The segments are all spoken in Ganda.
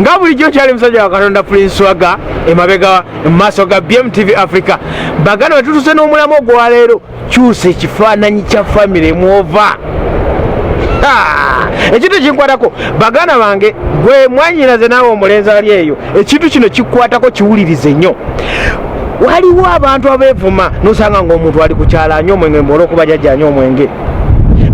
nga bulijjo kyali musajja wa katonda prince waga emabega mu maaso ga bmtv africa baganda wetutuse n'omulamu ogwaleero kyusa ekifaananyi kya famire mwova ekintu ekinkwatako baganda bange gwe mwanyinaze naawe omulenzi ali eyo ekintu kino kikwatako kiwulirize nnyo waliwo abantu abevuma nosanga ngaomuntu ali kukyala nyo omwenge mbaolwokuba jajja nyo omwenge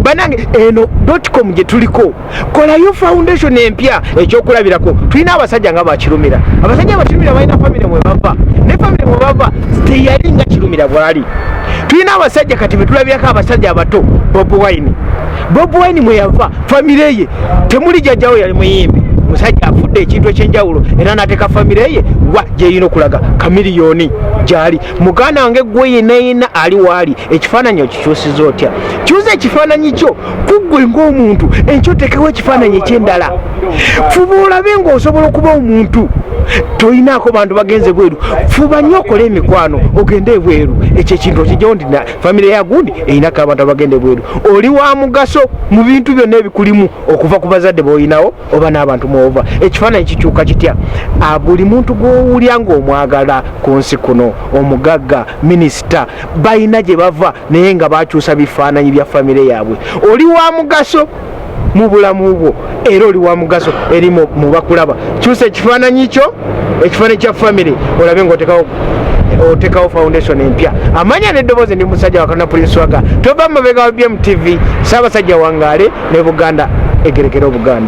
banange eno dotcom gyetuliko kolayo foundation empya ekyokulabirako tulina abasajja nga bakirumira abasajja bakirumira balina famire mwebava ne famire mwebava teyali nga kirumira bwali tulina abasajja kati betulabirako abasajja abato bob wine bob wine mweyava famire ye temuli jajjawo yali muyimbi musajja afudde ekintu ekyenjawulo era nateka famire ye wa gyeyina okulaga kamiliyoni gyali muganda wange gwe yenayina ali waali ekifaananyi okikyusiza otya kyuza ekifaananyi kyo kuggwe ng'omuntu enkyo otekewo ekifaananyi ekyendala fuba olabe ng'osobola okuba omuntu tolinaako bantu bagenze bweru fuba nnyo okole emikwano ogende ebweru ekyo ekintu okijjawo nti famire yagundi erinako abantu abagenda ebweru oli wa mugaso mu bintu byonna ebikulimu okuva ku bazadde boolinawo oba n'abantu mwova ekifaananyi kikyuka kitya ah, buli muntu gwowulya ngaomwagala ku nsi kuno omugagga minisita balina gye bava naye nga bakyusa bifaananyi bya famire yaabwe oli wa mugaso mu bulamu bwo era oli wa mugaso eri mu bakulaba kyusa ekifaananyi kyo ekifaananyi kya famire olabe ngaotekawo otekawo foundation empya amanya neddoboozi ndi musajja wakana prince waga tova mumabega wa bmtv saabasajja wangaale ne buganda egerekera obuganda